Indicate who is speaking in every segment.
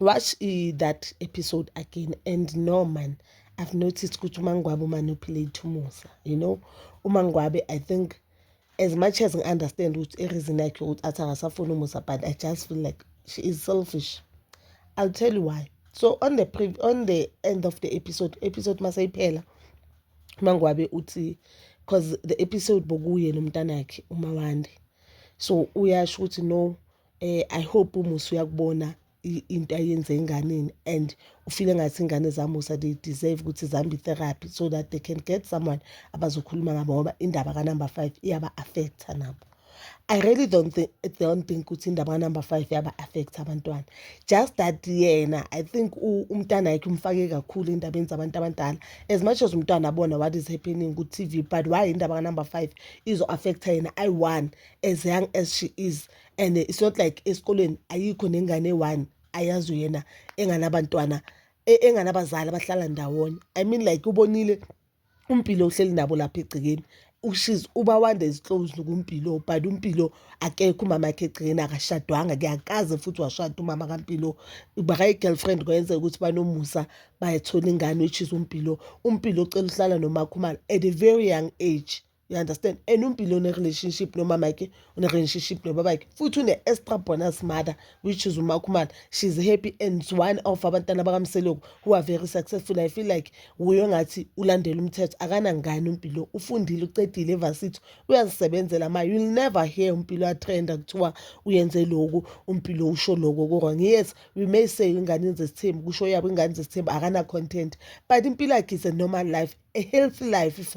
Speaker 1: watch uh, that episode again and no man i've noticed ukuthi umangwabe umanipulate umusa you know umangwabe i think as much as ngi-understand ukuthi ireason yakhe ukuthi athi akasafuni umusa but i just feel like she is selfish i'll tell you why so on the pre on the end of the episode episode maseyiphela umangwabe uthi because the episode bokuye nomntanakhe umawande so uyasho ukuthi no eh i hope umusa uyakubona into ayenze enganeni and ufile ngathi ingane zamusa they deserve ukuthi zihambe i-therapy so that they can get someone abazokhuluma ngabo ngoba indaba kanumber five iyaba-affektha nabo I really don't think don't think ukuthi indaba number 5 yaba affect abantwana just that yena I think umntana yakhe umfake kakhulu endabeni zabantu abadala as much as umntwana abona what is happening ku TV but why indaba number 5 izo affect yena I one as young as she is and it's not like esikolweni ayikho nengane one ayazi uyena enganabantwana e, enganabazali abahlala ndawonye i mean like ubonile umpilo uhleli nabo lapha egcekeni ushiz uba wanda is close kumpilo but umpilo akekho umama yakhe egcekeni akashadwanga kuyakaze futhi washada umama kampilo bakayi-girlfriend kwayenzeka ukuthi banomusa bayathola ingane which is umpilo umpilo ucela uhlala nomakhumalo at a very young age You understand? And uMbili une-relationship nomamakhe, une-relationship nobabakhe. Futhi une-extra bonus mother, which is uMakhumalo. She's happy and one of abantwana bakaMseleku who are very successful. I feel like wuye ongathi ulandela umthetho. Akanangane uMbilo. Ufundile, ucedile evarsity. Uyazisebenzela ma. You'll never hear uMbilo atrenda kuthiwa uyenze lokhu, uMbilo usho lokho kurong. Yes, we may say ingane zesithembu, kusho yabo ingane zesithembu akana-content. But impilo yakhe is a normal life, a healthy life.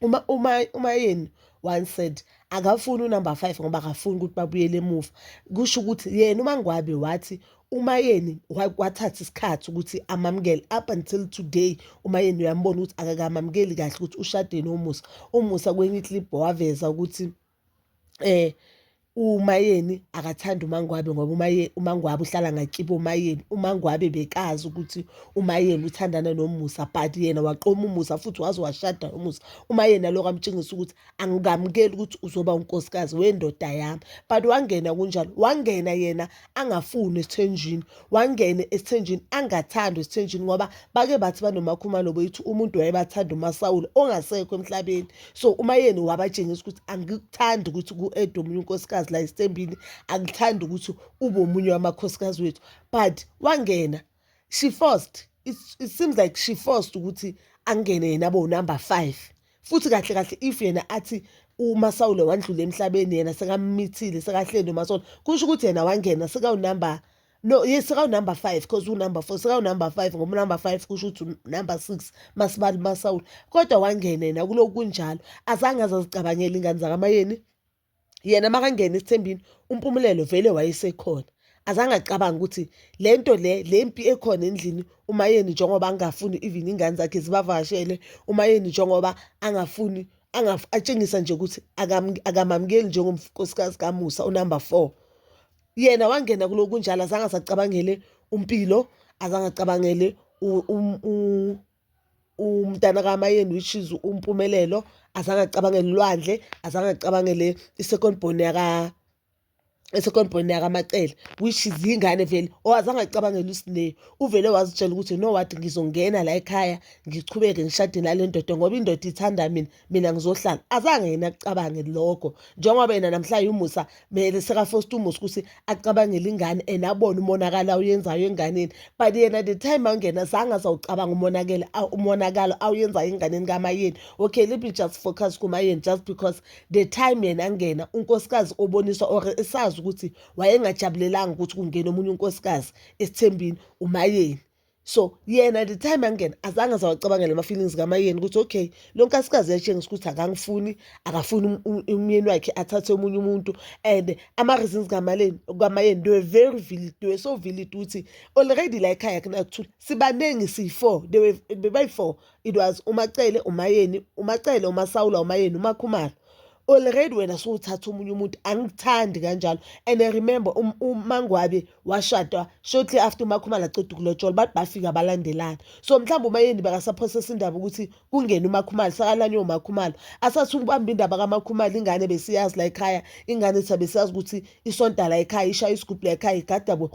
Speaker 1: uma uma uma yeni one said akafuni unumber five ngoba akafuni ukuthi babuyele emuva kusho ukuthi yena umangwabe wathi umayeni wathatha isikhathi ukuthi amamukele up until today umayeni uyambona ukuthi akakamamukeli kahle ukuthi ushade nomusa umusa kwenye iclip waveza ukuthi uMayeni akathandi uMaNgwabe ngoba uMaNgwabe uhlala ngakibo oMayeni, uMaNgwabe bekazi ukuthi uMayeni uthandana noMusa but yena waqoma uMusa futhi waze washada noMusa. UMayeni alokhu amtshengisa ukuthi angikamukeli ukuthi uzoba unkosikazi wendoda yami but wangena kunjalo, wangena yena angafuni esithenjini wangene esithenjini angathandwa esithenjini ngoba bake bathi banomakhumalo bethu umuntu wayebathanda umasawule ongasekho emhlabeni so uma yeni wabatshengisa ukuthi angikuthandi ukuthi ku-ede omunye unkosikazi la esitembini angithandi ukuthi ube omunye wamakhosikazi wethu but wangena she forced it, it seems like she forced ukuthi angene yena bo number 5 futhi kahle kahle if yena athi uma sawule wandlula emhlabeni yena sekamithile sekahleli umasona kusho ukuthi yena wangena sekawunumber no yes sekawunumber 5 because unumber 4 sekawunumber 5 ngoba unumber 5 kusho ukuthi number 6 masibali masawule kodwa wangena yena kuloku kunjalo azange azazicabangela ingane zakamayeni yena makangena esithembini uMpumelelo vele wayesekhona azange acabange ukuthi le nto le le mpi ekhona endlini umayeni njengoba angafuni even ingane zakhe zibavakashele umayeni njengoba angafuni atshengisa nje ukuthi akamamukeli njengonkosikazi kamusa unumber four yena wangena kuloku kunjalo azange asacabangele umpilo azange acabangele umntana kaMayeni which is uMpumelelo azange acabangele ulwandle azange acabangele i-second born yaka i-second born yakaMacele which is yingane vele or azange acabangele uSineyo. Uvele wazitshela ukuthi you know what ngizongena layikhaya ngichubeke ngishade nale ndoda ngoba indoda ithanda mina mina ngizohlala azange yena acabange lokho njengoba yena namhlanje umusa mele sekafosta umusa ukuthi acabangele ingane and abone umonakalo awuyenzayo enganeni but yena the time angena zange azawucabanga umonakele umonakalo awuyenzayo enganeni kamayeni okay let me just focus kumayeni just because the time yena angena unkosikazi oboniswa or esazi ukuthi wayengajabulelanga ukuthi kungena omunye unkosikazi esithembini umayeni so yena the time angena azange azawacabangela ama-feelings kamayeni ukuthi okay lo nkasikazi yatshengisa ukuthi akangifuni akafuni um, um, umyeni wakhe athathe omunye umuntu and ama-reasons kamayeni they were very vilit they were so vilit ukuthi already la ekhaya kunakuthula sibaningi siyi-four bebayi-four it was umacele umayeni umacele umasawula umayeni umakhumalo already wena sowuthatha omunye umuntu angithandi kanjalo and I remember um, umangwabe washadwa shortly after umakhumala ceda ukulotshola bathi bafika balandelana so mhlawumbe umayeni bakasaphosesa indaba ukuthi kungene umakhumala sakalanywe umakhumala asathi ukubamba indaba kamakhumala ingane besiyazi la ekhaya ingane sabe siyazi ukuthi isonta la ekhaya ishaya isigubhu la ekhaya igadabo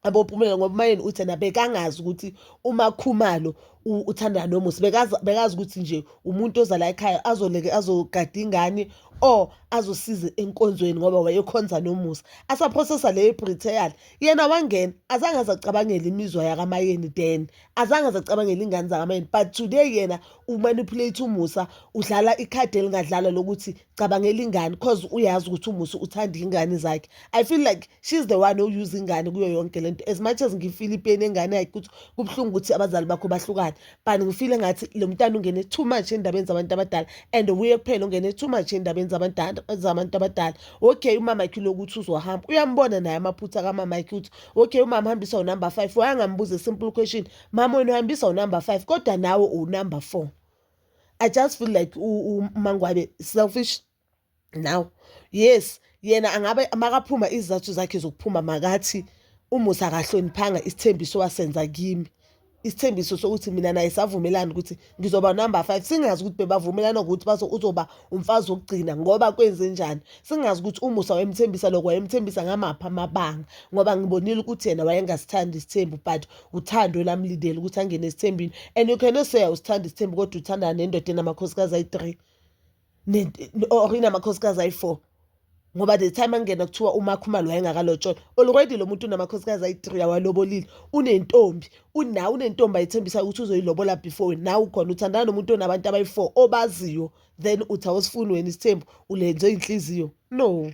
Speaker 1: abopumela ngoba umayeni uthi yena bekangazi ukuthi umakhumalo uthandana nomusa bekazi bekazi ukuthi nje umuntu oza la ekhaya azoleke azogada ingane or azosiza enkonzweni ngoba wayekhonza nomusa asaprocessa le britel yena wangena azange azacabangela imizwa yakamayeni then azange zacabangela ingane zakamayeni but today yena umanipulate umusa udlala ikhadi elingadlala lokuthi cabangela ingane cause uyazi ukuthi umusa uthanda ingane zakhe i feel like she's the one owuse ingane kuyo yonke lento as much as ngifile ipeni engane yakhe ukuthi kubuhlungu ukuthi abazali bakho bahlukane but ngifile ngathi lo mntana ungene too much endabeni zabantu abadala and wuye kuphela ungene too much endabeni zabantu abadala okay umama yakhe lokuthi uzohamba uyambona naye amaphutha kamama yakhe ukuthi okay umama hambisa unumber five wayangambuza isimple question mama wena uhambisa unumber five kodwa nawe unumber four i just feel like umangwabe selfish now yes yena angabe makaphuma izizathu zakhe zokuphuma makathi umusa akahloniphanga isithembiso wasenza kimi isithembiso sokuthi mina naye savumelana ukuthi ngizoba number five singazi ukuthi bebavumelana ukuthi bazo uzoba umfazi wokugcina ngoba kwenze njani singazi ukuthi umusa wayemthembisa lokho wayemthembisa ngamaphi amabanga ngoba ngibonile ukuthi yena wayengasithandi isithembu but uthando elamlindele ukuthi angene esithembini and you cannot say awusithandi isithembu kodwa uthandana nendoda enamakhosikazi ayi-three or inamakhosikazi ayi-four ngoba the time angena kuthiwa umakho umali wayengakalotsholwa already lo muntu unamakhosikazi ayi-three awalobolile unentombi unawe unentombi ayithembisa ukuthi uzoyilobola before wena nawe ukhona uthandana nomuntu onabantu abayi-four obaziyo then uthi awusifuni wena isithembu ulenze inhliziyo no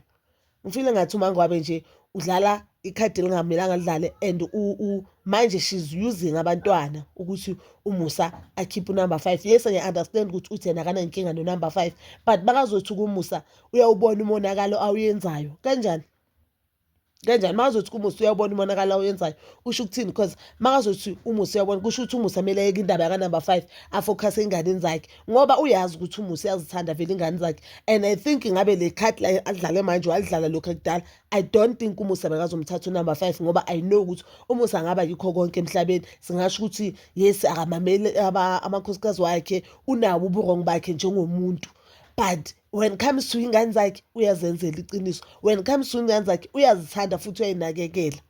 Speaker 1: ngifile ngathi umangwabe nje udlala ikhadi elingamelanga lidlale and manje she's using abantwana ukuthi umusa akhiphe unumber five yes ngiya-understand ukuthi uthi yena akanankinga nonumber five but bakazothi kumusa uyawubona umonakalo awuyenzayo kanjani kanjani makazothi kumusa uyawubona umonakalo awuyenzayo usho ukuthini because makazothi umusa uyabona kusho ukuthi umusa kumele ayeke indaba yakanumber five afokhase ey'nganeni zakhe ngoba uyazi ukuthi umusa uyazithanda vele ingane zakhe and i think ngabe le card la adlale manje walidlala lokhu ekudala i don't think umusa bekazomthatha unumber five ngoba i know ukuthi umusa angaba yikho konke emhlabeni singasho ukuthi yes akamameli amakhosikazi wakhe unawo uburongo bakhe njengomuntu but when it comes to ingane zakhe uyazenzela iqiniso when it comes to ingane zakhe uyazithanda futhi uyayinakekela